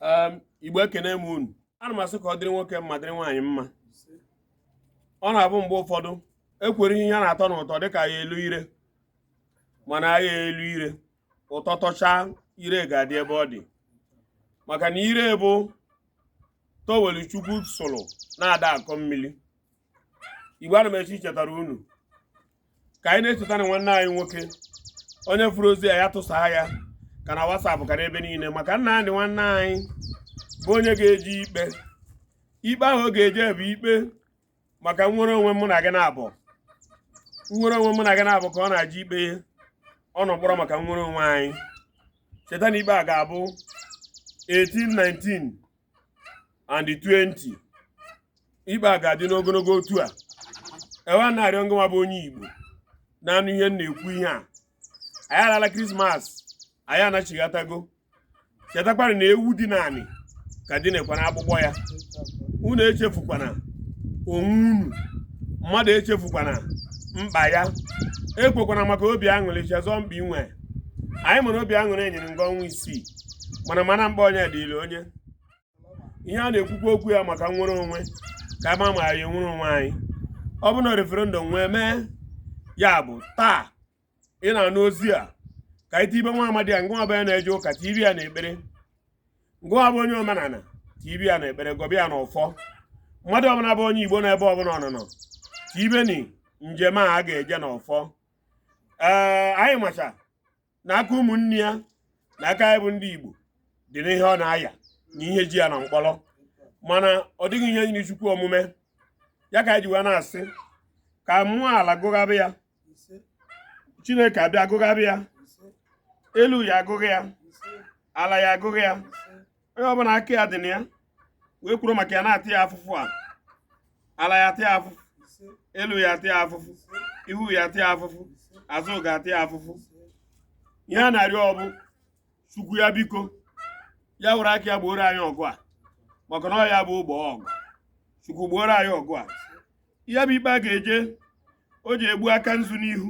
um, igbo ekene m unu ana m asị ka ọ dịrị nwoke mma dịrị nwaanyị mma ọ na-abụ mgbe ụfọdụ ekwere ihe ya na-atọ n'ụtọ dịka ya elo ire mana ya elo ire ụtọ tọchaa ire ga-adị ebe ọ dị maka na ire bụ towelu chukwu sụrụ na-ada akọ mmiri igbo ana m asị chetara unu ka anyị na-echeta na nwanne anyị nwoke onye furu ozi a ya tụsaa ya ka na WhatsApp ka n'ebe niile maka nnamdi nwanne anyị bụ onye ga-eje ikpe ikpe ahụ ọ ga-eje bụ ikpe maka nnwere onwe mụ na gị na-abụ nnwere onwe mụ na gị na-abụ ka ọ na-eje ikpe ọ nọ mkpọrọ maka nnwere onwe anyị cheta na ikpe a ga-abụ 18 19 and 20 ikpe a ga-adị n'ogologo otu a e wee na-arịọ ngịnwa bụ onye Igbo na-anụ ihe m na-ekwu ihe a anyị alala krismas anyị anachighatago chetakwana na ewu dina anị ka dinekwara akpụkpọ ya unu echefukwana onwe unu mmadụ echefukwana mkpa ya ekwokwana maka obi aṅụrị chezọ mkpa i nwe anyị mara obi aṅụrị enyere nga ọnwa isii mana mana mkpa onye dịrị onye ihe a na-ekwukwa okwu ya maka nnwere onwe ka a ma ma anyị nwere onwe anyị ọ bụ na referendum wee mee ya bụ taa ị na-anụ ozi a ka i tibe nwa amadi a ngịnwa bụ onye na-eje ụka tibe ya na ekpere ngịnwa bụ onye omenala tibe ya na ekpere gọba ya na ọfọ mmadụ ọbụla bụ onye igbo n'ebe ọbụla unu nọ tibeni njem a a ga-eje n'ọfọ ee anyị macha na aka ụmụnne ya na aka ya bụ ndị Igbo dị n'ihe ọ na-aya na ihe ji ya na mkpọrọ mana ọ dịghị ihe nyiri chukwu omume ya ka e ji wee na-asị ka mmụọ ala gụgụba ya chineke abịa gụgụba ya elu ya agụgụ ya ala ya agụgụ ya onye ọbụla aka ya dị na ya wee kworo maka ya na-ata ya afụfụ a ala ya ata ya afụfụ elu ya ata ya afụfụ ihu ya ata ya afụfụ azụ ga-ata ya afụfụ ihe a na-arịọ ọ bụ chukwu ya biko ya were aka ya gbooro anyị ọgụ a maka na ọ ya bụ ogbo ọgụ chukwu gbooro anyị ọgụ a ya bụ ikpe a ga-eje o ji egbu aka nzu n'ihu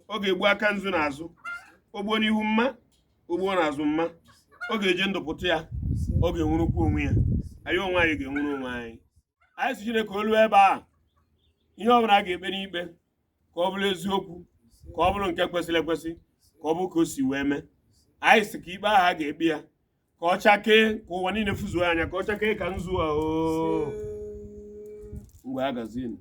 ọ ga-egbu aka nzu n'azụ o gbuo n'ihu mma o gbuo na azụ mma ọ ga-eji ndụ pụta ya ọ ga-enwurukwu onwe ya anyị onwe anyị ga-enwuru onwe anyị anyị sị Chineke o luo ebe a ihe ọ bụla a ga-ekpe n'ikpe ka ọ bụrụ eziokwu ka ọ bụrụ nke kwesịrị ekwesị ka ọ bụrụ ka o si wee mee anyị sị ka ikpe ahụ a ga-ekpe ya ka ọ chakee ka ụwa niile fuzuo anya ka ọ chakee ka nzu ahụ ngwazịnụ